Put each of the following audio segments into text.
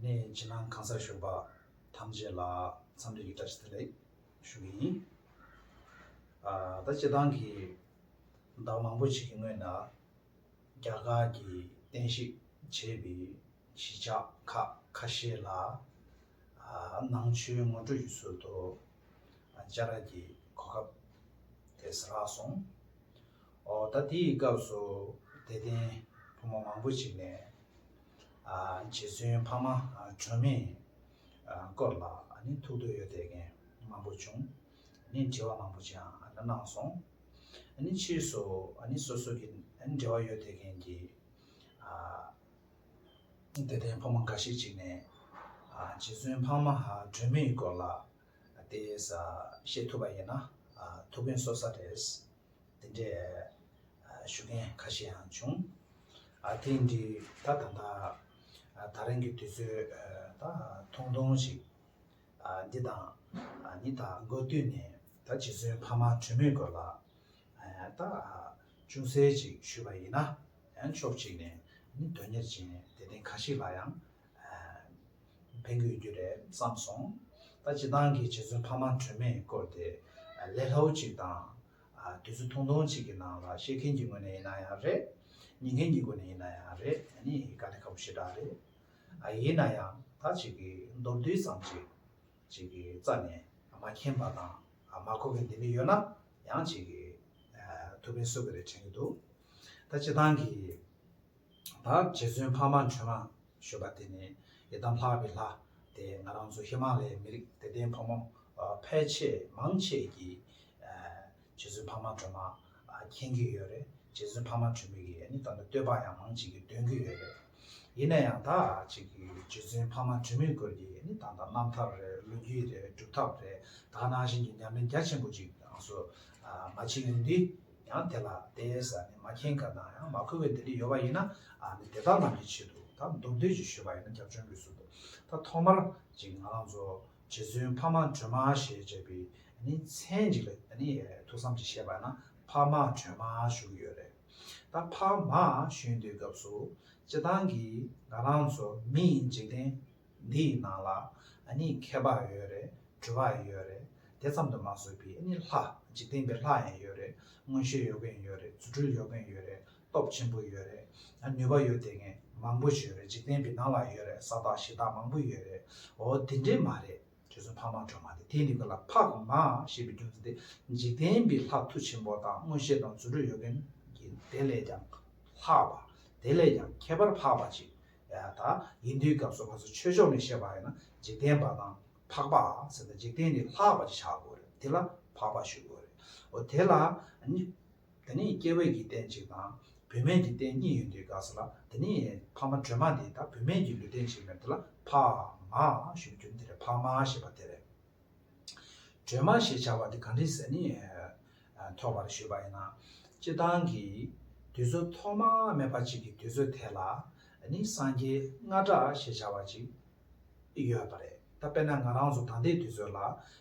གནས་ཡིན་ཕྱི་ནང་གང་སར་ཞུགས་པ་ཐམས་ཅད་ལ་འཚམས་འདྲི་ཡི་བཀྲ་ཤིས་བདེ་ལེགས་ཞུ་གི་ཡིན། ད་སྤྱི་བཏང་གི་ཟླ་མང་པོ་ཞིག་གི་སྔོན་ན་རྒྱ་གར་གྱི་བསྟན་བཤིག་བྱས་པའི་གཞིས་ཆགས་ཁག་ཁ་ཤས་ལ་ནང་ཆོས་ངོ་སྤྲོད་ཀྱི་ཚུལ་དུ་སྦྱར་ར་གྱི་གོ་སྐབས་དེས་རག་སོང། ཨོ་ད་དེའི་སྐབས་སུ་དད་ལྡན་བུ་མོ་མང་པོ་ཞིག་ནས་རྗེ་བཙུན་འཕགས་མ་དྲོན་མོས་སྐོར་ལ་ཐུགས་འདོད་ཡོད་དགེ་རྒན་མང་པོ་བྱུང། དྲི་བ་མང་པོ་ཅིའང་གནང་སོང། ཕྱིས་སུ་སོ་སོ་གི་འབྲེལ་བ་ཡོད་དགེ་རྒན་གྱིས་དད་ལྡན་ཕོ་མོ་འགའ་ཞིག་ཅིག་ནས་རྗེ་བཙུན་འཕགས་མ་དྲོན་མོའི་སྐོར་ལ་དེ་བཤད་ཐུབ་པ་ཡིན་ན་ཐུགས་ཕན་གསོ་ས་རེད། འདི་འདྲའི་ཞུ་མཁན་ཁ་ཤས་ཡང་བྱུང། དེ་འདྲའི་ད་ད་ད་རིང་གི་དུས་ཚོད་ད་ཐུང་ཐུང་ཞིག་འདི་དང་ནི་ད་འགོ་བསྟུད་ནས་ད་རྗེ་བཙུན་ཕ་མ་གྲོས་མོས་སྐོར་ལ་ད་ཅུང་ཟད་ཅིག་ཞུས་པ་ཡིན་ན་ཡང་ཕྱོགས་གཅིག་ནས་ནི་དོན་གཉེར་ཅན་དད་ལྡན་ཁ་ཤིག་ལ་ཡང་ཕན་དགོས་རྒྱུ་རེད་བསམ་སོང། ད་སྤྱི་བཏང་གི་རྗེ་བཙུན་ཕ་མ་གྲོས་མོས་སྐོར་དེ་ལས་ལྷའུ་གཅིག་དང། དུས་ཚོད་ཐུང་ཐུང་ཞིག་གི་ནང་ལ་བཤད་མཁན་གྱི་ངོས་ནས་ཡིན་ན་ཡང་རེད། ཉན་མཁན་གྱི་སྒོ་ནས་ཡིན་ན་ཡང་རེད་ད་ནི་ག་འདི་ག་པོ་ཞེ་དྲག་རེད། ཡིན་ན་ཡང་ད་ཅིག་གི་མདོར་བསྡུས་ཙམ་ཞིག་ཅིག་གི་རྩ་ནས་མ་མཁྱེན་པ་དང་མ་གོ་མཁན་འདི་འདྲ་ཡོད་ན་ཡང་ཅིག་གི་ཐུགས་ཕན་གསོ་གི་རེད་དྲན་གྱི་འདུག་ད་སྤྱི་བཏང་གི། ད་རྗེ་བཙུན་འཕགས་མ་འཕྲུལ་མ་ཞུ་བ་དེ་ནི་ཡི་དམ་ལྷག་པའི་ལྷ་དེ་ང་རང་ཚོ་ཧི་མ་ལའི་མི་རིགས་དད་ལྡན་ཕོ་མོ་ཕལ་ཆེ་མང་ཆེས་ཀྱིས་རྗེ་བཙུན་འཕགས་མ་སྒྲོལ་མ་མཁྱེན་གྱི་ཡོད་རེད་རྗེ་བཙུན་འཕགས་མ་འཕྲུལ་མི་གིས་ནི་ད་ལྟ་བསྟོད་པ་ཡང་མང་ཅིག་འདོན་གྱི་ཡོད་རེད་ཡིན་ན་ཡང་ད་ཅིག་གི་རྗེ་བཙུན་འཕགས་མ་འཕྲུལ་མི་སྐོར་གྱི་ནི་ད་ལྟ་རྣམ་ཐར་རེད་ལོ་རྒྱུས་རེད་སྒྲུབ་ཐབས་རེད་ད་ནང་བཞིན་གྱི་ཉམས་ལེན་རྒྱ་ཆེན་པོ་ཅིག་ཡང་སུ་མ་བྱེད་ཀྱི་འདི་ཡང་དེ་ལ་དེ་ཟ་ནི་མ་མཁྱེན་ག་ན་ཡང་མ་ཁོལ་བའི་དེ་ལས་ཡོལ་བ་ཡིན་ན་ནི་དེ་དག་རྣམས་ཀྱི་ཆེད་དུ་ད་མདོ་བདུད་ཀྱི་ཞུས་པ་ཡིན་ན་རྒྱབ་བྱོན་གྱི་ཟུར་དུ་ད་ཐོག་མར་ཅིག་ང་རང་ཚོ་རྗེ་བཙུན་འཕགས་མ་སྒྲོལ་མ་ཞེས་བྱ་བའི་ནི་མཚན་ཅིག་ལ་ནི་ཐུགས་བསམ་གྱིས་བཤད་པ་ན་འཕགས་མ་སྒྲོལ་མ་བཞུགས་ཀྱི་ཡོད་རེད། ད་འཕགས་མ་བཞུགས་འདུག་སྐབས་སུ་སྤྱི་བཏང་གིས་ང་རང་ཚོ་མི་ཡི་འཇིག་རྟེན་འདི་ཡི་ནང་ལ་ཨ་ནི་མཁས་པའང་ཡོད་རེད་གྲོས་པའང་ཡོད་རེད་དེ་ཙམ་དུ་མ་བཟོད་པའི་ཨ་ནི་ལྷ་འཇིག་རྟེན་པའི་ལྷ་ཡང་ཡོད་རེད་མངོན་ཤེས་ཡོད་མཁན་ཡོད་རེད་རྫུ་འཕྲུལ་ཡོད་མཁན་ཡོད་རེད་སྟོབས་ཆེན་པོ་ཡོད་རེད་ནུས་པ་ཡོད་དེ་ངས་མང་པོ་བྱོས་རེད་འཇིག་རྟེན་པའི་ནང་ལ་ཡོད་རེད་ས་བདག་གཞི་བདག་མང་པོ་ཡོད་རེད་འོ་དེ་འདྲས་མ་རེད་ཁྱོད་ཚོ་འཕགས་མ་གྲོས་མ་དེ་དེ་ནི་ཁོ་ལ་འཕགས་མ་ཞེས་པའི་རྒྱུ་མཚན་དེ་འཇིག་རྟེན་པའི་ལྷ་མཐུ་ཆེན་པོ་དང་མངོན་ཤེས་དང་རྫུ་འཕྲུལ་ཡོད་མཁན་གྱི་དེ་ལས་ཀྱང་ལྷག་པ་དེ་ལས་ཀྱང་ཁྱད་པར་འཕགས་པ་ཅིག་ད་ཡིན་དུས་སྐབས་སུ་ང་ཚོ་ཆོས་ཕྱོགས་ནས་བཤད་པ་ཡིན་ན་འཇིག་རྟེན་པ་དང་འཕགས་པ་ཟེར་ན་འཇིག་རྟེན་ནི་ལྷག་པ་ཅིག་བྱ་དགོས་རེད་དེ་ལ་འཕགས་པ་ཞུ་དགོས་རེད་འོ་དེ་ལ་ནི་དེ་ནི་སྐྱེ་བོས་ཀྱི་རྟེན་གཅིག་དང་བུད་མེད་ཀྱི་རྟེན་གཉིས་ཡོད་དུས་སྐབས་སུ་ལ་དེ་ནི་ཕ་མ་དྲོད་མ་དེ་དང་བུད་མེད་ཀྱི་ལུས་རྟེན་གཅིག་མེད་དེ་ལ་འཕགས་མ་ཞུ་རྒྱུ་ནི་དེ་རེད་འཕགས་མ་ཞེས་པ་དེ་རེད། སྒྲོལ་མ་ཞེས་བྱ་བ་འདི་གངས་རིའི་ཟས་ནི་ཐོགས་པར་ཞུས་པ་ཡིན་ན། སྤྱི་བཏང་གི་དུས་ཚོད་ཐོག་མ་མེད་པ་ཅིག་གི་དུས་ཚོད་དེ་ལ་ནི་སངས་རྒྱས་ལྔ་སྦྲགས་ཞེས་བྱ་བ་ཅིག་ཡོད་པ་རེད་ད་དཔེར་ན་ང་རང་ཚོ་ད་ལྟའི་དུས་ཚོད་ལ་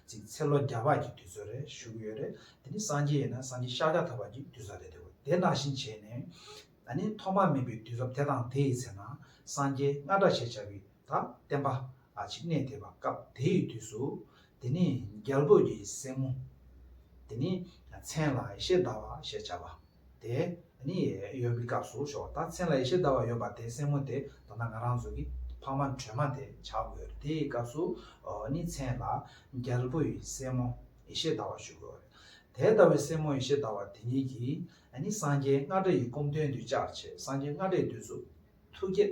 ཅིག་ཚེ་ལོ་བརྒྱ་ཕག་གི་དུས་ཚོད་རེ་བཞུགས་ཡོད་རེད་དེ་ནི་སངས་རྒྱས་ཡིན་ན་སངས་རྒྱས་ཤཱ་ཀྱ་ཐ་བ་གི་དུས་ཚོད་རེད་དེ་དེ་ནང་བཞིན་བྱས་ནས་ནི་ཐོག་མ་མེད་པའི་དུས་རབས་དེ་དང་དེ་ཡི་ཚེ་ན་སངས་རྒྱས་ལྔ་སྦྲགས་ཞེས་བྱ་བའི་དང་བསྟན་པ་གཅིག་གནས་དེ་བ་སྐབས་དེའི་དུས་སུ། དེ་ནི་རྒྱལ་པོ་ཡི་སྲས་མོ། དེ་ནི་མཚན་ལ་ཡེ་ཤེས་ཟླ་བ་ཞེས་བྱ་བ། དེ་ནི་ཡོད་པའི་སྐབས་སུ་ཞོག་ད་མཚན་ལ་ཡེ་ཤེས་ཟླ་བ་ཡོད་པ་དེ་སྲས་མོ་དེ་ད་ནང་ང་རང་ཚོ་གི་ཕ་མ་ཁྲོས་མ་དེ་བྱ་དགོས་དེའི་སྐབས་སུ་ནི་མཚན་ལ་རྒྱལ་པོ་ཡི་སྲས་མོ་ཡེ་ཤེས་ཟླ་བ་ཞུ་དགོས་དེ་ལྟ་བུའི་སྲས་མོ་ཡེ་ཤེས་ཟླ་བ་དེ་ཉིད་ཀྱིས་ནི་སངས་རྒྱས་ལྔ་སྒྲ་ཡི་སྐོམ་སྟོན་དུས་བཅར་བྱེད་སངས་རྒྱས་ལྔ་སྒྲའི་དུས་སུ་ཐུགས་བསྐྱེད།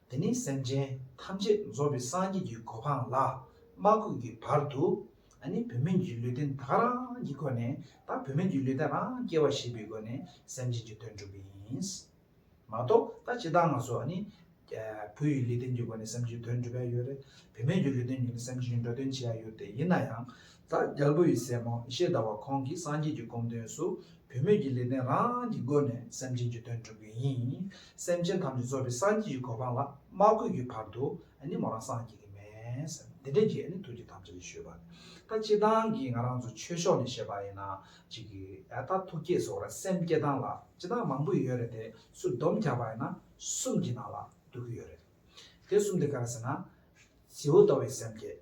འདི་ནི་སེམས་ཅན་ཐམས་ཅད་རྫོགས་པའི་སངས་རྒྱས་ཀྱི་གོ་འཕང་ལ་མ་བཀོད་ཀྱི་བར་དུ། ནི་བུད་མེད་ཀྱི་ལུས་རྟེན་དག་རང་གི་སྒོ་ནས་དང་བུད་མེད་ཀྱི་ལུས་རྟེན་རང་སྐྱེ་བ་ཞེས་པའི་སྒོ་ནས་སེམས་ཅན་གྱི་དོན་སྒྲུབ་པ་ཡིན། མ་གཏོགས་ད་ཅི་ད་ང་སོགས་ནི། བུ་ཡི་ལུས་རྟེན་གྱི་སྒོ་ནས་སེམས་ཅན་གྱི་དོན་སྒྲུབ་ཡ་ཡོད། བུད་མེད་ཀྱི་ལུས་རྟེན་གྱི་སྒོ་ནས་སེམས་ཅན་གྱི་འགྲོ་དོན་བྱེད་ཡ་ཡོད་དེ་ཡིན་ན་ཡང། ད་རྒྱལ་པོ་ཡི་སྲས་མོ་ཤེས་ཟླ་བ་ཁོང་གིས་སངས་རྒྱས་ཀྱི་སྒོམ་དོན་སུ་བུད་མེད་ཀྱི་ལས་ལྡན་རང་གི་སྒོ་ནས་སེམས་ཅན་གྱི་དོན་སྒྲུབ་པའི་ཡིན། སེམས་ཅན་ཐམས་ཅད་གཙོ་བའི་སངས་རྒྱས་ཀྱི་གོ་འཕང་ལ་མ་བཀོད་ཀྱི་བར་དུ་ནི་མོ་རང་སངས་རྒྱས་ཀྱི་མེད། དེ་འདྲའི་རྒྱས་ནི་ཐུགས་རྗེ་ཐམས་ཅད་ལས་བཤོལ་བ། ད་སྤྱི་བཏང་གིས་ང་རང་ཚོ་ཆོས་ཕྱོགས་ནས་བཤད་པ་ཡིན་ན་ཅིག་གི་ད་ཐུགས་བསྐྱེད་སོགས་ལ་སེམས་བསྐྱེད་སྟངས་ལ་སྤྱི་བཏང་མང་པོ་ཡོད་རེད་དེ་སུ་སྡོམ་རྒྱག་པ་ཡིན་ན་གསུམ་གྱི་ནང་ལ་བསྡུ་གི་ཡོད་རེད། དེ་གསུམ་དེ་ག་རེ་ཟེར་ན། བྱིའུ་ཟླ་བའི་སེམས་བསྐྱེད།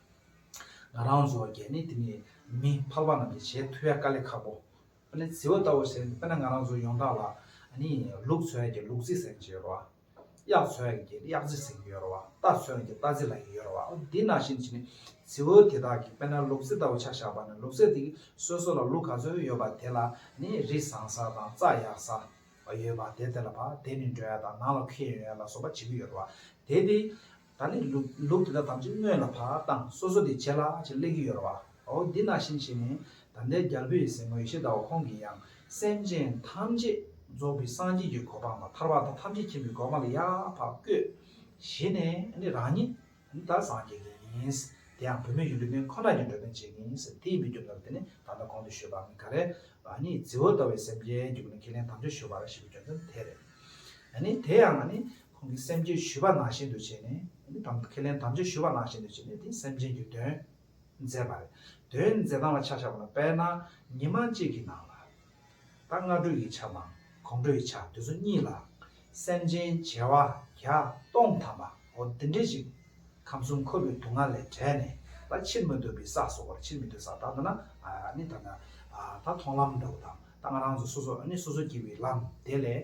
ང་རང་ཚོ་རྒྱ་མི་དེ་ནི་མི་ཕལ་པ་རྣམས་ཀྱི་བྱེད་ཐུ་ཡ་དཀའ་ལས་ཁག་པོ་པེ་ནི་ཟིའོ་ལྟ་བུ་ཟེར་ནི་པེ་ན་ང་རང་ཚོ་ཡོང་ཐང་ལ་ནི་ལུག་ཚོ་ཡ་གི་ལུག་རྫི་ཟེར་གྱི་ཡོད་རོ་གཡག་ཚོ་ཡ་གི་གཡག་རྫི་ཟེར་གྱི་ཡོད་རོ་རྟ་ཚོ་ཡ་གི་རྟ་རྫི་ལ་གི་ཡོད་རོ་དེ་ན་བཞིན་བྱེད་ནི་ཟིའོ་དེ་དག་གི་པེ་ན་ལུག་རྫི་ལྟ་བུ་ཆ་བཞག་པ་ནི་ལུག་རྫི་དེ་གི་སོ་སོ་ལ་ལུག་ག་ཚོད་ཡོད་པ་དེ་ལ་ནི་རི་བཟང་ས་དང་རྩྭ་ཡག་ས་ཡོད་པ་དེ་དེ་ལ་བ་དེ་ནི་འགྲོ་ཡ་དང་ནང་ལ་ཁུ་ཡ་ཡོང་ཡ་ལ་སོགས་པ་བྱེད་ཀྱི་ཡོད་རོ་དེ་དེ་ད་ནི་ལུག་དེ་དག་དམ་ཚིག་སྨོས་ལ་བག་དང་སོ་སོ་དེ་བྱས་ལ་ཅེས་གླེང་གི་ཡོད་ར་བ། འོ་འདི་ན་བཞིན་བྱས་ནས་ད་ལྟའི་རྒྱལ་པོ་ཡི་སྲས་མོ་ཡེ་ཤེས་ཟླ་བ་ཁོང་གིས་ཡང་སེམས་ཅན་ཐམས་ཅད་རྫོགས་པའི་སངས་རྒྱས་ཀྱི་གོ་འཕང་དང་ཐར་བ་དང་ཐམས་ཅད་མཁྱེན་པའི་གོ་འཕང་ལ་ཡར་བར་བསྐོས། བྱས་ནས་ནི་རང་ཉིད་ད་སངས་རྒྱས་ཀྱི་ཡིན། དེ་ཡང་བུད་མེད་ཡུལ་འགྲོ་མཁན་ཁོ་ན་ཡང་འགྲོ་མཁན་གཅིག་ཡིན། དེ་ཡིན་པའི་རྒྱུ་མཚན་དེ་ནི་ད་ལྟ་གོང་དུ་ཞུས་པ་ནི་ག་རེ་རང་ཉིད་རྫི་བོ་ལྟ་བུའི་སེམས་ཅན་གྱི་ཁས་ལེན་དམ་ཆོས་ཞུ་བ་ར་ཞེས་པའི་རྒྱུ་མཚན་དེ་རེད། ནི་དེ་ཡང་ནི་ཁོང་གིས་སེམས་བསྐྱེད་ཞུས་པ་ནང་བཞིན་དུ་བྱས་ནས། དམ་ཁས་ལེན་དམ་བཅའ་ཞུས་པ་ནང་བཞིན་དུ་བྱས་ནས་དེ་སེམས་ཅན་གྱི་དོན། མཛད་པ་རེད། དོན་མཛད་སྟངས་ལ་ཆ་བཞག་པ་ལ་དཔལ་ནང་ཉིན་མང་གཅིག་གི་ནང་ལ། ད་སྔ་དྲོ་ཡི་ཆ་མང་གོང་དྲོ་ཡི་ཆ་དེ་ཚོ་གཉིས་ལ། སེམས་ཅན་བྱེ་བ་བརྒྱ་སྟོང་ཐམ་པ་འོ་འདི་འདྲས་ཅིག། ཁམས་གསུམ་འཁོར་བའི་དུག་ལྔ་ལས་བྲལ་ནས་ད་ཕྱིར་མི་སྡོད་པའི་ས་སོགས་པར་ཕྱིར་མི་སྡོད་ས་ད་འདི་ན་ནི་ད་ད་མཐོང་ལམ་འདྲ་བོ་དང་ད་ང་རང་ཚོ་སོ་སོ་ནི་སོ་སོ་སྐྱེ་བའི་ལམ་དེ་ལས།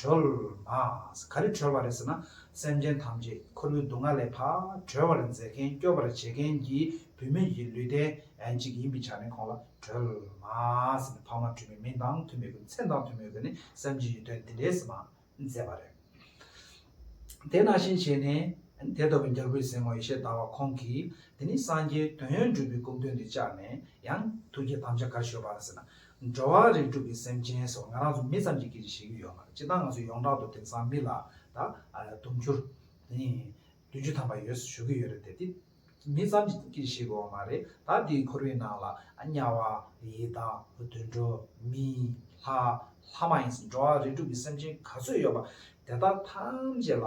གྲོལ། མཱས། ག་རེ་གྲོལ་བ་རེད་ཟེར་ན། སེམས་ཅན་ཐམས་ཅད་ཁོ་བོའི་སྡུག་བསྔལ་ལས་ཕ། གྲོལ་བར་མཛད་མཁན་སྐྱོབ་པར་བྱེད་མཁན་གྱི་བུད་མེད་ཀྱི་ལུས་རྟེན་ཨན་ཅིག་ཡིན་པའི་ཆ་ནས་ཁོང་ལ་གྲོལ། མཱས། ནི་ཕ་མ་དྲུད་མེད་མིང་དང་མཐུན་མེད་ཀྱི་མཚན་དང་མཐུན་མེད་ཀྱི་ནི་སེམས་ཀྱི་ཡུལ་དོན་འདི་འདྲའི་ཟེར་མ། མཛད་པ་རེད། དེ་ནང་བཞིན་བྱས་ནས། དེ་ལྟ་བུའི་འགྱུར་བུའི་ཟིན་མོ་ཡེ་ཤེས་དར་བ་ཁོང་གིས་དེ་ནི་སངས་རྒྱས་དོན་ཡོད་འགྲུབ་པའི་སྐུ་མདུན་དུ་བཅར་ནས་ཡང་ཐུགས་ཀྱི་དམ་བཅའ་གར་ཞུ་བར་ཟེར་ན། འགྲོ་བ་རིགས་དྲུག་གི་སེམས་ཅན་སོགས་ང་རང་ཚོ་མི་ཙམ་གྱི་སྐད་ཅིག་བཤད་རྒྱུ་ཡོད་མ་རེད་སྤྱི་བཏང་ང་ཚོ་ཡོངས་གྲགས་དུ་དེང་སང་མི་ལ་ད་དུང་བཅུར་དེ་ནི་བདུན་ཅུ་ཐམ་པ་ཡོད་ཟེར་ཞུ་གི་ཡོད་རེད་དེ་དེ་མི་ཙམ་གྱི་སྐད་ཅིག་བཤད་དགོས་བ་མ་རེད་ད་དེའི་ཁོར་བའི་ནང་ལ་དམྱལ་བ། ཡི་དྭགས། དུད་འགྲོ། མི། ལྷ། ལྷ་མ་ཡིན་ཟེར་འགྲོ་བ་རིགས་དྲུག་གི་སེམས་ཅན་ག་ཚོད་ཡོད་པ་དེ་དག་ཐམས་ཅད་ལ་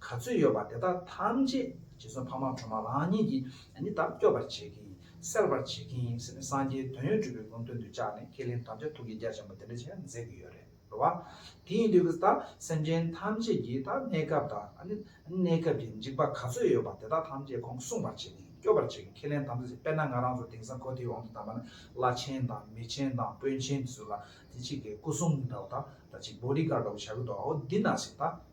ག་ཚོད་ཡོད་པ་དེ་དག་ཐམས་ཅད་རྗེ་བཙུན་འཕགས་མ་ཁྲོ་མ་རང་ཉིད་ཀྱིས་ནི་བདག་སྐྱོབ་པར་བྱེད་ཀྱི། སེལ་བར་བྱེད་ཀྱི་ཡིན་ཟེར་ནས་སངས་རྒྱས་དོན་ཡོད་གྲུབ་པའི་དགོངས་དོན་དུ་བཅགས་ནས་ཁས་ལེན་དམ་བཅའ་ཐུགས་ཀྱི་རྒྱ་ཆེན་པོ་དེ་འདྲ་བྱས་མཛད་ཀྱི་ཡོད་རེད་བ། དེ་ཡིན་དུས་ཀྱི་ད་སེམས་ཅན་ཐམས་ཅད་ཀྱི་ད་གནས་སྐབས་ད་གནས་སྐབས་ཀྱི་འཇིགས་པ་ག་ཚོད་ཡོད་པ་དེ་དག་ཐམས་ཅད་ཁོང་སྲུང་བར་བྱེད་ཀྱི་སྐྱོབ་པར་བྱེད་ཀྱི་ཁས་ལེན་དམ་བཅའ་བྱས་དཔེར་ན་ང་རང་ཚོ་དེང་སང་གོ་ཐེའུ་ཨང་དུ་བདམས་པ་ན་བླ་ཆེན་དང་མི་ཆེན་དང་དཔོན་ཆེན་དེ་ཚོ་ལ་དེ་གཅིག་གིས་སྐུ་སྲུང་འདྲ་བོ་ད་ད་གཅིག Body Guard འདྲ་བོ་བྱ་གི་འདུག་ཨོ་འདི་ན་ཞིག་ད།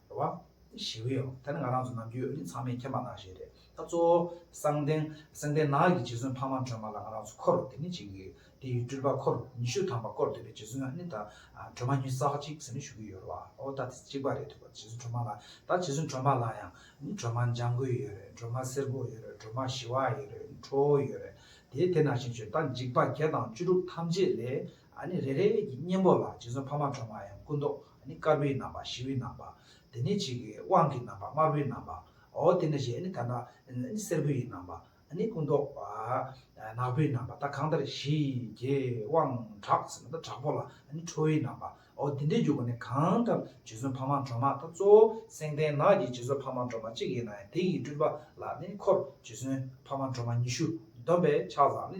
རེད་བ། ཞི་བའི་འོག་ད་ནི་ང་རང་ཚོ་ནམ་རྒྱུན་ཨོ་རྒྱན་ཚང་མས་མཁྱེན་པ་ནང་བཞིན་རེད་ད། གཙོ་བོ་གསང་བདེན། གསང་བདེན་ནག་གི་རྗེ་བཙུན་འཕགས་མ་སྒྲོལ་མ་ལ་ང་རང་ཚོ་འཁོར་རོ་དེ་ནི་བྱེད་ཀྱི་ཡོད། དེ་ཡི་སྤྲུལ་པ་འཁོར་ཉི་ཤུ་ཐམ་པ་བསྐོར་འདོད་པའི་རྗེ་བཙུན་ཨ་ནི་ད། སྒྲོལ་མ་ཉིད་བསགས་ཅིག་ཟེར་ནས་ཞུ་གི་ཡོད་རེད་བ། ཨོ་ད་དེ་གཅིག་པ་རེད་འདུག་བ། རྗེ་བཙུན་སྒྲོལ་མ་ལ་ད་རྗེ་བཙུན་སྒྲོལ་མ་ལ་ཡང། ནི་སྒྲོལ་མ་འཇམ་མགོན་ཡོད་རེད་སྒྲོལ་མ་སེར་པོ་ཡོད་རེད་སྒྲོལ་མ་ཞི་བ་ཡོད་རེད་ཁྲོ་བོ་ཡོད་རེད་དེ་དེ་ནང་བཞིན་བྱོས་ད་འཇིགས་པ་བརྒྱ་དང་བཅུ་དྲུག་ཐམས་ཅད་ལས་ནི་རེ་རེ་ཡི་གཉེན་པོ་ལ་རྗེ་བཙུན་འཕགས་མ་གྲོ་མ་ཡང་སྐུ་མདོག་ནི་དཀར་པོའི་རྣམ་པ་ཞི་བའི་རྣམ་པ། དེ་ནས་གཅིག་གི་དབང་གི་རྣམ་པ་དམར་པོའི་རྣམ་པའོ། དེ་ནས་གཞན་ནི་ད་ནི་སེར་པོ་ཡི་རྣམ་པ། ནི་སྐུ་མདོག་ནག་པོའི་རྣམ་པ་ད་གང་ལྟར་བཞི་གའི་དབང་དྲག་ཟེར་ན་ད་དྲག་པོ་ལ་ནི་ཁྲོ་བོའི་རྣམ་པའོ། དེ་འདྲའི་རྒྱུ་ག་ནི་གང་ལྟར་རྗེ་བཙུན་འཕགས་མ་གྲོ་མ་ད་གཙོ་བོ་སེང་ལྡེང་ནག་གི་རྗེ་བཙུན་འཕགས་མ་གྲོ་མ་གཅིག་ཡིན་ན་ཡང་དེ་ཡི་སྤྲུལ་པ་ལ་ནི་འཁོར་རྗེ་བཙུན་འཕགས་མ་གྲོ་མ་ཉི་ཤུ་བསྡོམས་པས་ཕྱག་བཟང་ནི།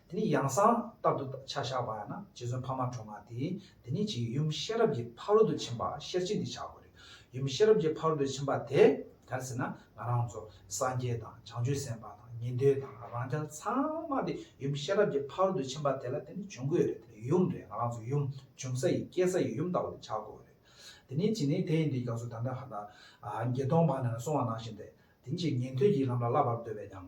དེ་ནི་ཡང་གསང་སྟབས་དུ་ཆ་བཞག་པ་ཡང་ན་རྗེ་བཙུན་འཕགས་མ་གྲོ་མ་དེས་དེ་ཉིད་ཀྱི་ཡུམ་ཤེས་རབ་ཀྱི་ཕ་རོལ་ཏུ་ཕྱིན་པ་ཤེར་ཕྱིན་འདི་བྱ་དགོས་རེད། ཡུམ་ཤེས་རབ་ཀྱི་ཕ་རོལ་ཏུ་ཕྱིན་པ་དེ་གར་ཟེར་ན་ང་རང་ཚོ་སངས་རྒྱས་དང་བྱང་ཆུབ་སེམས་དཔའ་དང་ཉན་ཐོས་དང་རང་རྐྱ་ཚང་མ་དེ་ཡུམ་ཤེས་རབ་ཀྱི་ཕ་རོལ་ཏུ་ཕྱིན་པ་དེ་ལ་དེ་ནི་བྱུང་དགོས་རེད་དེ་ནི་ཡུམ་རེད་ང་རང་ཚོ་ཡུམ་འབྱུང་ས་ཡི་སྐྱེ་ས་ཡི་ཡུམ་ལྟ་བུ་དེ་བྱ་དགོས་རེད། དེ་ནི་ཅི་ནས་དེ་ཡིན་དུས་ཀྱང་སུ་དང་དེ་གང་དག་བརྒྱད་སྟོང་འཕངས་ནས་སོང་བ་ནང་བཞིན་ཏེ་དེ་ཉིད་ཀྱི་ཉན་ཐོས་ཀྱི་ལམ་ལ་བསླབ་པར་འདོད་པས་ཀྱང་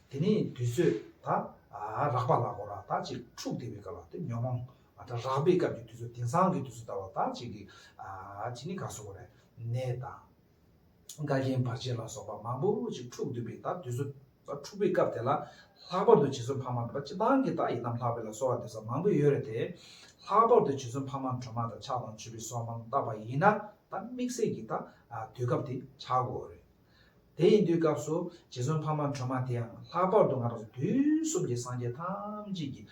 དེ་ནས་དུས་ཚོད་ད་རག་པ་ལ་གོ་ར་ད་ཅིག་འཁྲུགས་དེ་བའི་སྐབས་ལ་ཉོན་མོངས་ད་རག་པའི་སྐབས་ཀྱི་དུས་ཚོད་དེང་སང་གི་དུས་ཚོད་ད་བ་ད་ཅིག་གི་ཅིག་ནི་ག་སོ་གོ་རེ་ནས་ད་འགའ་རྒན་བར་ཆད་ལ་སོགས་པ་མང་པོ་ཅིག་འཁྲུགས་དུས་པའི་ད་དུས་ཚོད་ད་འཁྲུགས་པའི་སྐབས་དེ་ལ་ལྷག་པར་དུ་བྱེས་སོན་ཕ་མ་ད་སྤྱི་བཏང་གི་ད་ཡིན་ནམ་ལྷག་པའི་ལ་སོགས་བ་འདི་ཟ་མང་པོ་ཡོད་རེ་དེ་ལྷག་པར་དུ་བྱེས་སོན་ཕ་མ་གྲོ་མ་ད་ཆགས་དང་ཆུ་བི་སོགས་མང་བཏགས་པ་ཡིན་ན་ད་དམིགས་བསལ་གྱི་ད་དུས་སྐབས་དེ་ཆགས་གོ་རེ། དེ་ཡིན་དུས་སྐབས་སུ་རྗེ་བཙུན་འཕགས་མ་ཁྲོས་མ་དེའང་ལྷག་པར་དུ་ང་རང་ཚོ་དུས་གསུམ་གྱི་སངས་རྒྱས་ཐམས་ཅད་ཀྱི་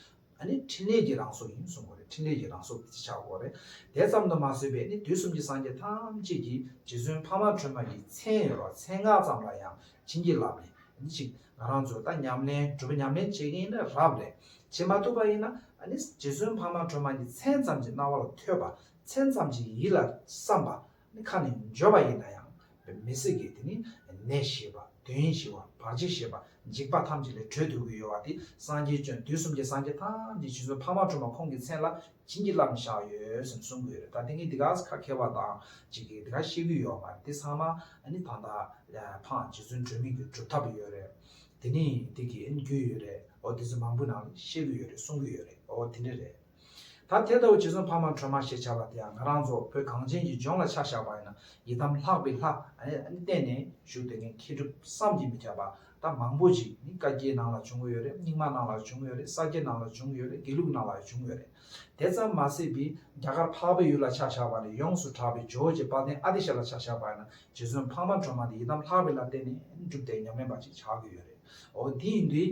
ནི་ཕྲིན་ལས་ཀྱི་རང་གཟུགས་ཡིན་གསུང་གོ་རེ་ཕྲིན་ལས་ཀྱི་རང་གཟུགས་ཅེས་བྱ་བ་གོ་རེ་དེ་ཙམ་དུ་མ་བཟོད་པས་ནི་དུས་གསུམ་གྱི་སངས་རྒྱས་ཐམས་ཅད་ཀྱིས་རྗེ་བཙུན་འཕགས་མ་ཁྲོས་མ་ཡི་མཚན་ཡོད་པ་མཚན་སྔགས་ཙམ་ལ་ཡང་བྱིན་གྱིས་བརླབས་ནས་ནི་ཅིག་ང་རང་ཚོས་ད་ཉམས་ལེན་སྒྲུབ་པ་ཉམས་ལེན་བྱེད་མཁན་ཡིན་ན་རབ་ལས་བྱེད་མ་ཐུབ་པ་ཡིན་ན་ནི་རྗེ་བཙུན་འཕགས་མ་ཁྲོས་མ་ཀྱི་མཚན་ཙམ་གྱི་རྣ་བ་ལ་ཐོས་པ་མཚན་ཙམ་གྱི་ཡིད་ལ་བསམས་པ་ནི་ཁ་ནས་བརྗོད་པ་ཡིན་ན་ཡང་མི་སྲིད་ཀྱི་དེ་ནི་ནད་ཞི་བ་དོན་ཞི་བ་བར་ཆད་ཞི་བ་འཇིགས་པ་ཐམས་ཅད་ལས་གྲོལ་འདོད་ཀྱི་ཡོལ་བ་དེ་སངས་རྒྱས་སྤྱོན་དུས་གསུམ་གྱི་སངས་རྒྱས་ཐམས་ཅད་ཕྱིས་སུ་འཕགས་མ་ཁྲོ་མོ་ཁོང་གི་མཚན་ལ་བྱིན་གྱིས་བརླབས་ནས་བཞག་ཡོད་སེམས་གསུང་གི་ཡོད་རེད་ད་དེ་གཉིས་དེ་ག་ཁ་ཁེལ་བ་དང་གཅིག་གིས་དེ་ག་ཤེས་ཀྱི་ཡོད་མ་རེད་དེ་ཚང་མ་ནི་ད་ལྟ་འཕགས་རྗེ་བཙུན་གྲོས་མིན་གྱི་སྒྲུབ་ཐབས་ཡོད་རེད་དེ་ནི་དེ་གི་རྒྱུ་ཡོད་རེད་འོ་དེ་ཚོ་མང་པོའི་ནང་ནས་ཤེས་ཀྱི་ཡོད་རེད་གསུང་གི་ཡོད་རེད་འོ་དེ་འདྲ་རེད། ད་དེ་ལྟ་བུ་ཇི་བཟུང་ཕ་མ་ཁྲོས་མ་ཞེས་བྱ་བ་དེའང་ང་རང་ཚོ་བོད་གངས་ཅན་གྱི་ལྗོངས་ལ་ཆ་བཞག་པ་ཡིན་ན་ཡི་དམ་ལྷག་པའི་ལྷ། བསྟེན་ནས་བཞུགས་དེ་ངས་མཁས་གྲུབ་བསམ་གྱིས་མི་ཁྱབ་པ་དག་མང་པོ་ཞིག་ནི་བཀའ་བརྒྱད་ནང་ལ་བྱུང་ཡོད་རེད་རྙིང་མ་ནང་ལ་བྱུང་ཡོད་རེད་ས་སྐྱའི་ནང་ལ་བྱུང་ཡོད་རེད་དགེ་ལུགས་ནང་ལ་བྱུང་ཡོད་རེད་དེ་ཙམ་མ་ཟད་པའི་རྒྱ་གར་འཕགས་པའི་ཡུལ་ལ་ཆ་བཞག་པ་ནས་ཡོངས་སུ་གྲགས་པའི་ཇོ་བོ་རྗེ་དཔལ་ལྡན་ཨ་ཏི་ཤ་ལ་ཆ་བཞག་པ་ཡིན་ན་ཇི་བཟུང་ཕ་མ་ཁྲོས་མ་དེ་ཡི་དམ་ལྷག་པའི་ལྷ་བསྟེན་ནས་སྒྲུབ་སྡེ་ཉམས་ལེན་པ་ཅིག་ཆགས་ཀྱི་ཡོད་རེད་འོ་དེ་ཡིན་དུས།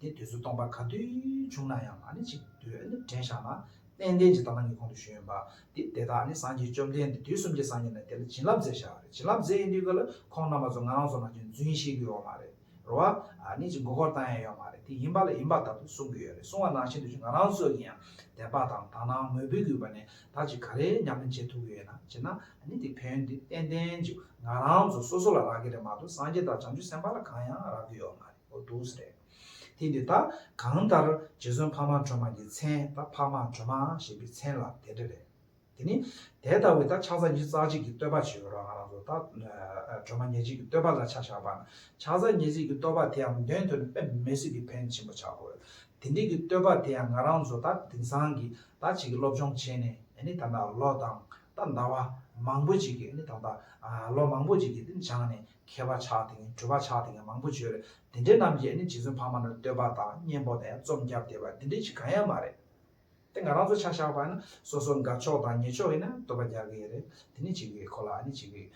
དེ་དུས་སུ་སྟོང་པ་ག་དུས་བྱུང་ན་ཡང་ནི་ཆིག་བརྒྱུད་ནི་དྲན་བཞག་ན་དཔལ་ལྡན་གྱི་དྭངས་མ་ཉིད་ཁོང་དུ་ཞུ་ཡོན་པ། དེ་དེ་དག་ནི་སངས་རྒྱས་བཅོམ་ལྡན་འདས་དུས་གསུམ་གྱི་སངས་རྒྱས་ནི་དེ་ལ་བྱིན་རླབས་མཛད་བྱ་བ་རེད་བྱིན་རླབས་མཛད་ཡིན་དུས་ཀ་ལ་ཁོང་རྣམ་པ་ཚོ་ང་རང་ཚོ་ནང་ཆུ་འཛིན་བཤད་རྒྱུ་ཡོག་མ་རེད་རོ་བ། ནི་ཅི་མགོ་སྐོར་བཏང་ཡ་ཡོག་མ་རེད་དེ་ཡིན་པ་ལ་ཡིན་པ་ལྟར་དུ་གསུང་གི་ཡོད་རེད་གསུང་བ་ནང་བཞིན་དུ་ཆུ་ང་རང་ཚོ་གི་ཡང་དད་པ་དང་དག་སྣང་མོས་འབུལ་གུས་པ་ནས་ད་ཅི་ག་རེ་ཉམས་ལེན་བྱེད་ཐུབ་གི་ཡོད་ན་བྱེད་ན་ནི་དེ་ཕན་ཡོན་དེ་དཔལ་ལྡན་གྱི་ང་རང་ཚོ་སོ་སོ་ལ་རག་གི་རེད་མ་གཏོགས་སངས་རྒྱས་དང་བྱང་ཆུབ་སེམས་དཔའ་ལ་གང་ཡང་རག་གི་ཡོག་མ་རེད། པོ་འདུག་ཟེར། དེ་འདི་དག་གང་ལྟར་རྗེ་བཙུན་འཕགས་མ་ཁྲོས་མ་གྱི་མཚན་ད་འཕགས་མ་ཁྲོས་མ་ཞེས་པའི་མཚན་ལ་དེ་འདྲ་རེད། དེ་ནི་དེ་ལྟ་བུའི་ད་ཕྱག་རྫ་ཉིས་རྩ་གཅིག་གི་བསྟོད་པ་བྱེད་རོགས་ང་རང་ཚོ་ད་ཁྲོས་མ་ཉེར་གཅིག་གི་བསྟོད་པ་ལ་ཆ་བཞག་པ་ན་ཕྱག་རྫ་ཉེར་གཅིག་གི་བསྟོད་པ་དེའང་འདོན་དོན་དཔེ་མེད་ཟིལ་གྱིས་འཕེན་ཆེན་པོ་བྱ་དགོས། དེ་འདྲིའི་གི་བསྟོད་པ་དེའང་ང་རང་ཚོ་ད་དེང་སང་གི་ད་བྱེད་ཀྱི་སློབ་སྦྱོང་བྱས་ནས་ནི་ད་ལོ་དང་ད་ཟླ་བ་མང་པོ་ཅིག་གི་ནི་ད་ལོ་མང་པོ་ཅིག་གི་ནི་སྦྱངས་ནས་མཁས་པ་ཆགས་དེ་ངས་གྲོས་པ་ཆགས་དེ་ངས་མང་པོ་བྱོས་རེད་དེ་འདྲེ་རྣམས་ཀྱིས་ནི་རྗེ་བཙུན་འཕགས་མ་རྣམས་བསྟོད་པ་དང་གཉེན་པོ་དང་རྩོམ་རྒྱབ་བསྡད་པ་འདི་འདྲེ་ཞིག་གང་ཡང་མ་རེད་དེ་ང་རང་ཚོ་ཆ་བཞག་པ་ཡིན་ན་སོ་སོ་དགའ་ཕྱོགས་དང་ཉེས་ཕྱོགས་ཡིན་ན་བསྟོད་པ་རྒྱག་གི་ཡོད་རེད་དེ་ནི་བྱེད་གི་ཡོད་ཁོ་ལ་ནི་བྱེད་གི་ཡོད་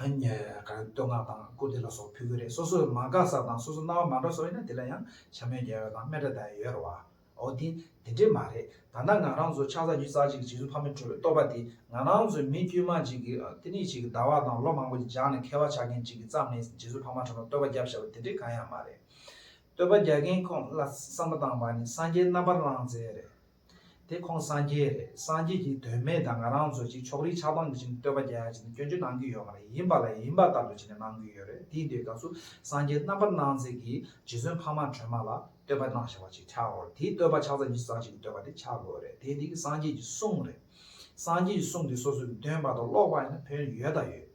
ཡིན་ག་རེ་བསྟོད་བསྔགས་དང་བཀུར་བསྟི་ལ་སོགས་ཕུལ་གི་རེད་སོ་སོས་མ་དགའ་ས་དང་སོ་སོ་རྣ་བ་མ་འདྲ་སོགས་ཡིན་ན་དེ་ལ་ཡང་བྱམས་སྨོད་རྒྱག་ཡོད་དང་སྨད་དགྲ་ཟླ་ཡོད་རེད་བ། འོ་དེ་དེ་འདྲས་མ་རེད་ད་ནང་ང་རང་ཚོ་ཆགས་ས་རྒྱུ་རྩ་གཅིག་རྗེ་བཙུན་ཕ་མའི་གྲོལ་བའི་བསྟོད་པ་དེ་ང་རང་ཚོའི་མི་དཀྱུས་མ་གཅིག་གི་ཨ་ཏི་ནི་གཅིག་གི་ཟླ་བ་དང་ལོ་མང་པོ་གཅིག་སྦྱངས་ནས་མཁས་པ་ཆགས་མཁན་གཅིག་གི་བརྩམས་ནས་རྗེ་བཙུན་ཕ་མ་གྲོལ་ན་བསྟོད་པ་རྒྱབ་བཞག་པ་དེ་འདྲས་གང་ཡང་མ་རེད། བསྟོད་པ་རྒྱག་མཁན་ཁོང་ལ་བསམ་བློ་བཏང་བ་ནི་སངས་རྒྱས་རྣམ་པར་བླང་མཛད་རེད་དེ་ཁོང་སངས་རྒྱས་རེད་སངས་རྒྱས་ཀྱི་དོན་མེད་ད་ང་རང་ཚོ་གཅིག་ཕྱོགས་རིས་ཆགས་སྡང་གི་བྱས་ནས་བསྟོད་པ་རྒྱག་ཡ་བྱས་ནས་སྐྱོན་བརྗོད་གནང་གི་ཡོད་མ་རེད་ཡིན་པ་ལ་ཡིན་པ་ལྟར་དུ་བྱས་ནས་གནང་གི་ཡོད་རེད་དེའི་འདོད་དགའ་ཚུལ་སངས་རྒྱས་རྣམ་པར་སྣང་མཛད་ཀྱི་རྗེ་བཙུན་ཕ་མ་གྲོལ་མ་ལ། བསྟོད་པ་གནང་བྱ་བ་ཅིག་ཆགས་འོ། དེའི་བསྟོད་པ་ཆགས་ཚར་གྱི་གསང་ཆེན་བསྟོད་པ་དེ་ཆགས་དགོས་རེད་དེ་འདི་གི་སངས་རྒྱས་ཀྱི་གསུང་རེད། སངས་རྒྱས་ཀྱི་གསུང་དེ་སོ་སོ་ནས་འདོན་པ་དང་ཀློག་པ་ཡིན་ན་ཕན་ཡོད་དང་ཡོད།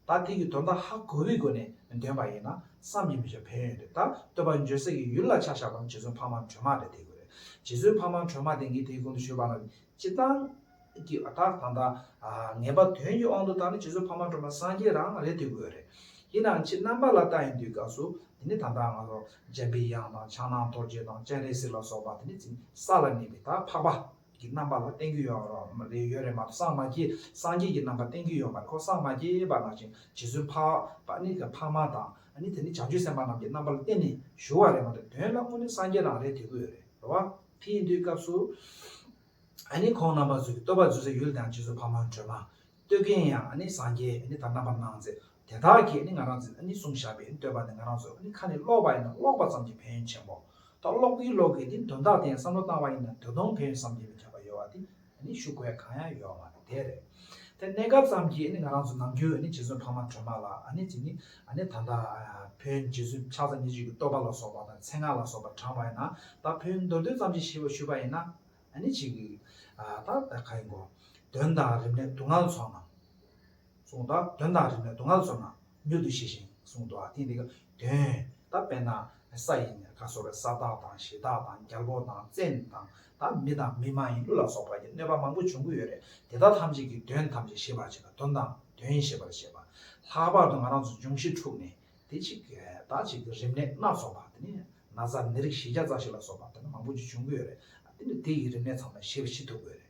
ད་དེ་གི་དོན་དག་ཧ་གོ་བའི་སྒོ་ནས་འདོན་པ་ཡིན་ན་བསམ་གྱི་མི་ཆོག་ཕན་ཡོད་དེ་ད་བསྟོད་པ་འཇོལ་སྲས་ཀྱི་ཡུལ་ལ་ཆ་བཞག་པ་ནི་རྗེ་བཙུན་འཕགས་མ་སྒྲོལ་མ་རེད་དེ་གོ་རེད་རྗེ་བཙུན་འཕགས་མ་སྒྲོལ་མ་དེ་ངས་དེའི་གོང་དུ་ཞུས་པ་ན་སྤྱི་བཏང། གི་བ་དག་དང་དང། ངེས་པ་དོན་གྱི་དབང་དུ་བཏང་ནི་རྗེས་སུ་ཕ་མ་འགྲོ་མ་སངས་རྒྱས་རང་རེད་དེ་འོས་རེད། ཡིན་ནའང་ཕྱི་རྣམ་པ་ལ་ལྟ་ཡིན་དུས་སྐབས་སུ་དེ་ནི་ད་ལྟའང་ལོར་འཇམ་པའི་དབྱངས་དང་ཕྱག་ནང་རྡོ་རྗེ་དང་སྤྱན་རས་གཟིགས་ལ་སོགས་པ་དེ་ནི་འཛིན་ས་ལ་གནས་པའི་དག་འཕགས་པ། གི་རྣམ་པ་ལ་བསྟན་རྒྱུ་ཡོད་ཡོད་རེད་མ་གཏོགས་སངས་མ་རྒྱས་སངས་རྒྱས་ཀྱི་རྣམ་པ་བསྟན་རྒྱུ་ཡོད་མ་རེད་ཁོང་སངས་མ་རྒྱས་པ་ནང་བཞིན་རྗེས་སུ་ཕ་པ་ནི་ཕ་མ་དང་ནི་དེ་ནི་བྱང་ཆུབ་སེམས་དཔའ་རྣམས་ཀྱི་རྣམ་པ་ལ་བསྟན་ནས་ཞུ་བ་རེད་མ་གཏོགས་དོན་ལ་དངོས་ནི་སངས་རྒྱས་རང་རེད་དེ་འོས་རེད་བ། དེ་ཡིན་དུས་སྐབས་སུ། ཨ་ནི་ཁོང་རྣམ་པ་བཟོད་ཀྱི་བསྟོད་པ་བརྫུས་ཚེ་ཡུལ་དང་རྗེས་སུ་ཕ་མ་སྒྲོལ་མ། བསྟོད་མཁན་ཡང་ཨ་ནི་སངས་རྒྱས་ཨ་ནི་དང་རྣམ་པར་སྣང་མཛད་དེ་དག་གིས་ཨ་ནི་ང་རང་འཛིན་ཨ་ནི་གསུང་བཤགས་པས་ཨ་ནི་བསྟོད་པ་ནི་ང་རང་བཟོད་ཨ་ནི་ཁ་ནས་ཀློག་པ་ཡིན་ན་ཀློག་པ་ཙམ་གྱིས་ཕན་ཡོན་ཆེན་པོ། ད་ཀློག་གིན་ཀློག་གིན་ཏེ་དོན་དག་དེ་ཡང་བསམ་བློ་བཏང་བ་ཡིན་ན་དོན་སྟོང་ཕན་ཡོན་བསམ་གྱིས་མི་ཁྱབ་པ་ཡོད་པ་དེ་ད་ནི་ཞུ་དགོས་གང་ཡང་ཡོད་མ་རེད་དེ་རེད་དེ་གནས་སྐབས་ཙམ་གྱི་ང་རང་ཚོ་ནམ་རྒྱུན་རྗེ་བཙུན་འཕགས་མ་ཁྲོས་མ་ལ་ནི་དེ་ནི་ད་ལྟ་བོན་རྗེ་བཙུན་ཕྱག་ཚ་ཉེར་གཅིག་གི་བསྟོད་པ་ལ་སོགས་པ་དང་མཚན་སྔགས་ལ་སོགས་པ་དྲངས་པ་ཡིན་ན་ད་བོན་མདོ་བདུན་ཙམ་ཞིག་ཞེས་པ་ཞུས་པ་ཡིན་ན་ནི་ཅིག་ད་ད་ག་ཡིན་དགོངས་དོན་དང་རིམས་ནད་དུག་ལྔ་ལ་སོགས་ན་གསུངས་དང་དོན་དང་རིམས་ནད་དུག་ལྔ་ལ་སོགས་ན་མྱུར་དུ་ཤེས་ཤིང་གསུང་དུའང་བསྟན་ཏེ། དོན་དམ་པས་ན་ས་ཡིན་ནས་ཁ་གསོ་བའི་ས་བདག་དང་གཞི་བདག་དང་རྒྱལ་པོ་དང་བཙན་དང་དང་མི་དང་མི་མ་ཡིན་ཀླུ་ལ་སོགས་པ་ཡི་གནོད་པ་མང་པོ་འབྱུང་གི་ཡོད་རེད་དེ་དག་ཐམས་ཅད་ཀྱི་དོན་ཐམས་ཅད་ཤེས་པར་བྱེད་ན་དོན་དང་དོན་ཤེས་པར་བྱེད་པ། ལྷག་པར་དུ་ང་རང་ཚོ་འབྱུང་བཞི་འཁྲུགས་ནས་དེ་གཅིག་ད་གཅིག་གི་རིམས་ནད་སྣ་ཚོགས་པ་དེ་ནི་ན་བཟའ་ནད་རིགས་བཞི་བརྒྱ་རྩ་བཞི་ལ་སོགས་པ་དེ་ནི་མང་པོ་ཅི་བྱུང་གི་ཡོད་རེད་དེ་ནི་དེ་ཡི་རིམས་ནད་ཚང་མ་ཞི་བ་ཞི་ཐུབ་དགོས་རེད།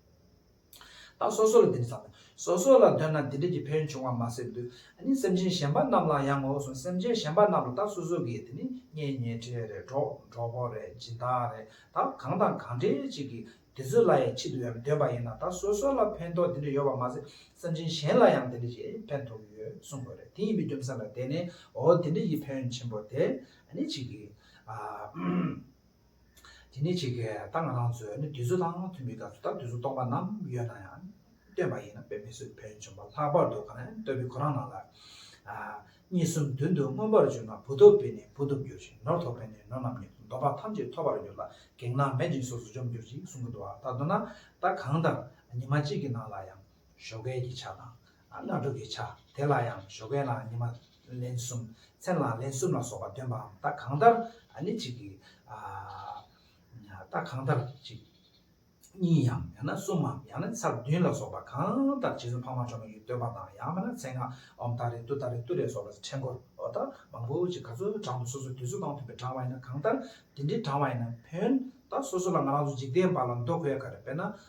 བདག་སོ་སོ་ལ་འདི་འདྲ་བསམ། སོ་སོ་ལ་འདོད་ན་འདི་འདྲ་གྱི་ཕན་བྱུང་བ་མ་ཟད་དུ། ནི་སེམས་ཅན་གཞན་པ་རྣམས་ལ་ཡང་ངོ་སོ་སེམས་ཅན་གཞན་པ་རྣམས་ལ་བདག་སོ་སོ་གིས་དེ་ནི་གཉེན་ཉེ་འཕྲད་རེད་གྲོགས་གྲོགས་པོ་རེད་སྦྱིན་བདག་རེད་ད་གང་དང་གང་འབྲེལ་གཅིག་གིས་དེ་ཚོ་ལ་ཡང་ཕྱི་དུ་ཡང་འདོད་པ་ཡིན་ན་བདག་སོ་སོ་ལ་ཕན་ཐོགས་འདི་འདྲ་ཡོད་པ་མ་ཟད་སེམས་ཅན་གཞན་ལ་ཡང་འདི་འདྲ་གྱི་ཕན་ཐོགས་ཀྱི་ཡོད་གསུངས་དགོས་རེད་དེ་ཡིན་པའི་རྒྱུ་མཚན་ལ་བརྟེན་ནས་འོ་འདི་འདྲ་གྱི་ཕན་ཆེན་པོ་དེ་ནི་གཅིག་གིས། དེ་ནི་གཅིག་གིས་ད་ང་རང་ཚོས་ནི་དུས་ཚོད་དང་ཐུན་མིན་སྐབས་སུ་ད་དུས་ཚོད་སྟོང་པ་རྣམས་ཡོད་ན་ཡང་སྟོན་པ་ཡིན་ན་དཔེར་མི་སུ་བོན་བྱོན་པ་ལྷག་པར་དུ་གང་ཡང་སྟོན་པའི་ཁོ་རང་རྣམས་ལ། གཉིས་གསུམ་བདུན་དུ་མངོན་པར་གྱུར་ན་བུ་ཐོབ་པས་ནི་བུ་ཐོབ་འགྱུར་ཞིང་ནོར་ཐོབ་པས་ནི་ནོར་རྣམས་ཉིད་དུ་འདོམས་པ་ཐམས་ཅད་ཐོབ་པར་འགྱུར་ལ་གེགས་སྣང་མེད་ཅིང་སོ་སོ་འཇོམས་འགྱུར་ཅིག་གསུང་གི་འདུག་བ་ད་དུ་ན་ད་གང་ལྟར་ཉི་མ་གཅིག་གི་ནང་ལ་ཡང་ཞོ་སྐལ་གྱི་ཆ་དང། སྔ་དྲོ་གི་ཆ་དེ་ལ་ཡང་ཞོ་སྐལ་ལའང་ཉི་མ་ལན་གསུམ། མཚན་ལའང་ལན་གསུམ་ལ་སོགས་པ་སྟོན་པའམ་རྟགས་གང་ལྟར་ནི་གཅིག་གི། རྟགས་གང་ལྟར་གཅིག། གཉིས་ཡང་ཡང་ན་གསུམ་མམ་ཡང་ན་ཚར་བདུན་ལ་སོགས་པ་གང་ལྟར་རྗེས་སུ་འཕགས་མ་འཕྲོ་མོ་ཡི་སྟོན་པ་དང་ཡང་མིན་ན་མཚན་སྔགས་འོམ་ད་རེ་ཏུ་ད་རེ་ཏུ་རེ་སོགས་ལ་ཕྲེང་འཁོར་འོ་ད་མང་པོ་ཅིག་ག་ཚོད་བགྲང་དུ་སོ་སོའི་དུས་ཚོད་དང་མཐུན་པའི་བགྲང་བ་ཡིན་ན་གང་ལྟར་དེ་འདྲའི་བགྲང་བ་ཡིན་ན་བོན། ད་སོ་སོ་ལ་ང་རང་ཚོ་འཇིག་རྟེན་པ་ལ་མདོ་དགོས་ག་རེ་དཔེར་ན།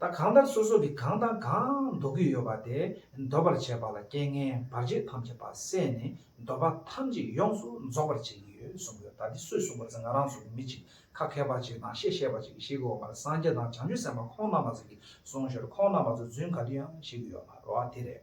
ད་གང་ལྟར་སོ་སོ་གིས་གང་དང་གང་འདོར་གྱི་ཡོད་པ་དེ་འདོར་བར་བྱེད་པ་ལ་རྐྱེན་ངན་བར་ཆད་ཐམས་ཅད་པ་བསལ་ནས་འདོར་པ་ཐམས་ཅད་ཡོངས་སུ་རྫོགས་པར་བྱེད་ཀྱི་ཡོད་གསུངས་པས་ད་འདི་སུས་གསུངས་པ་ཟེར་ང་རང་ཚོ་མི་གཅིག་ཁ་མཁས་པ་གཅིག་དང་ཤེས་ཤེས་པ་གཅིག་གིས་ཤེས་ཀྱི་ཡོད་མ་རེད་སངས་རྒྱས་དང་བྱང་ཆུབ་སེམས་དཔའ་ཁོང་རྣམ་པ་ཚོ་གིས་གསུངས་ཞོར་ཁོང་རྣམ་པ་ཚོ་རྫུན་ག་དུས་ཡང་བཤད་ཀྱི་ཡོད་མ་རེད་དེ་རེད།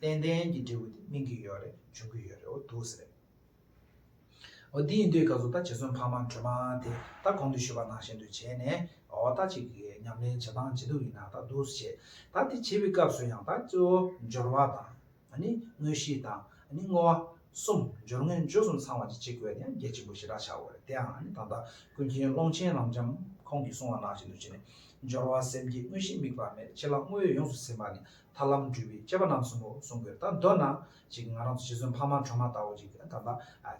ཏན་ཏན་གྱི་འབྲས་བུ་དེ་སྨིན་གྱི་ཡོད་རེད་འབྱུང་གི་ཡོད་རེད་འོ་འདུག་ཟེར། འོ་འདི་ཡིན་དུས་སྐབས་སུ་ད་རྗེ་བཙུན་འཕགས་མ་སྒྲོལ་མ་དེ་ད་གོང་དུ་ཞུས་པ་ནང་བཞིན་དུ་བྱས་ནས་འོ་ད་ཅིག་གིས་ཉམས་ལེན་བྱེད་སྟངས་ཇི་འདུག་ཡིན་ན་ད་འདུག་བྱས། ད་དེ་བྱེད་པའི་སྐབས་སུ་ཡང་ད་གཙོ་བོ་སྦྱོར་བ་དང། དངོས་གཞི་དང། བསྔོ་བ། གསུམ་སྦྱོར་དངོས་འབྱོར་གསུམ་ཚང་བ་ཅིག་བྱེད་དགོས་ན་ཡང་རྒྱ་ཆེན་པོ་ཞེ་དྲག་བྱའོ་རེད་དེའང་ད་ལྟ་ཀུན་མཁྱེན་ཀློང་ཆེན་རང་འཇམ་ཁོང་གིས་གསུང་བ་ནང་བཞིན་དུ་བྱས་ནས་སྦྱོར་བ་སེམས་བསྐྱེད་དངོས་གཞི་དམིགས་པ་མེད་ཕྱི་ལ་བསྔོ་བས་ཡོངས་སུ་ཟིན་པ་ནི་ཐར་ལམ་འགྲུལ་བའི་སྐྱེས་པ་རྣམས་སུ་མོ་གསུང་དགོས་ད་འདོད་ན་ཅིག་ང་རང་ཚོ་ཞེ་སུན་ཕ་མ་གྲོ་མ་ལྟ་བུ་ཅིག་ད་ལྟ་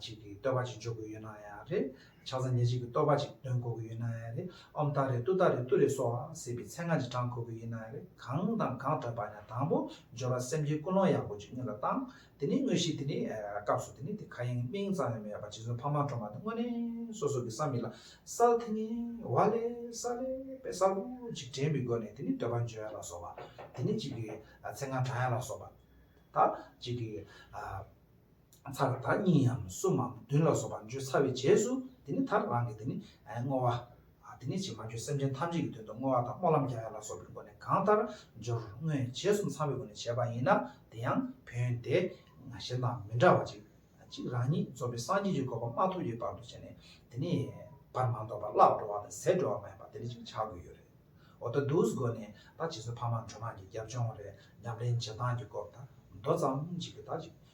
ཅིག་གི་བསྟོད་པ་ཅིག་འཇོག་དགོས་ཡོད་ན་ཡང་རེད་ཆ་ཚང་ཉེ་ཅིག་གི་བསྟོད་པ་ཅིག་འདོན་གོ་དགོས་ཡོད་ན་ཡང་རེད་ཨོམ་ཏཱ་རེ་ཏུ་ཏཱ་རེ་ཏུ་རེ་སོགས་ཟེར་བའི་མཚན་སྔགས་ཅིག་བགྲང་གོ་དགོས་ཡོད་ན་ཡང་རེད་གང་དང་གང་བགྲང་པ་ཡང་དང་པོ་སྦྱོར་བ་སེམས་ཅན་ཀུན་སློང་ཡག་པོ་ཅིག་སྔོན་ལ་བཏང་དེ་ནས་དངོས་གཞི་དེ་ནི་སྐབས་སུ་དེ་ནི་དེ་ག་ཡིན་སྨིན་ཙམ་ཡང་མེད་པར་རྗེ་བཙུན་འཕགས་མ་ཁྲོ་མ་དེ་དངོས་གནས་སོ་སོ་གི་བསམ་མི་ལ་སལ་ཐེ་ངེ་བ་ལས་སལ་ལས་པའི་སལ་བུ་ཅིག་དྲན་པའི་སྒོ་ནས་དེ་ནི་འདོད་པ་འཇོའི་ལ་སོགས་པ་དེ་ནི་གཅིག་གི་ཚེ་ང་གྲང་ཡང་ལ་སོགས་པ་དང་གཅིག་གི་ཚ་ལ་དང་གཉིས་ཡམ་གསུམ་མམ་བདུན་ལ་སོགས་པ་འཇོ་ཚ་བའི་རྗེས་སུ་དེ་ནི་ད་རང་གི་དེ་ནི་བསྔོ་བ། དེ་ནས་ཅིས་མ་བཅོས་སེམས་ཅན་ཐམས་ཅད་ཀྱི་དོན་དུ་བསྔོ་བ་དང་སྨོན་ལམ་རྒྱག་ཡ་ལ་སོགས་པའི་སྒོ་ནས་གང་ལྟར་སྦྱོར་དངོས་རྗེས་གསུམ་ཚང་བའི་སྒོ་ནས་བྱས་པ་ཡིན་ན་དེ་ཡང་བོན་དེ། གཞན་དང་མི་འདྲ་བ་གཅིག་གཅིག་རང་ཉིད་རྩོམ་པའི་སངས་རྒྱས་ཀྱི་དགོས་པ་མ་ཐོབ་ཀྱི་བར་དུ་བྱས་ནས་དེ་ནས་བར་མ་དོར་བར་བརླག་འགྲོ་བ་དང་ཟད་འགྲོ་བ་མ་ཡིན་པ་དེ་འདྲ་ཅིག་བྱ་དགོས་ཡོད་རེད། འོ་ད་འདུག་སྒོ་ནས་ད་བྱེས་སུ་ཕ་མ་འགྲོ་མང་གི་རྒྱབ་ལྗོངས་རེད་ཉམས་ལེན་བྱེད་སྟངས་ཀྱི་སྐོར་ད་མདོ་ཙམ་ཅིག་གི་ད་ཅིག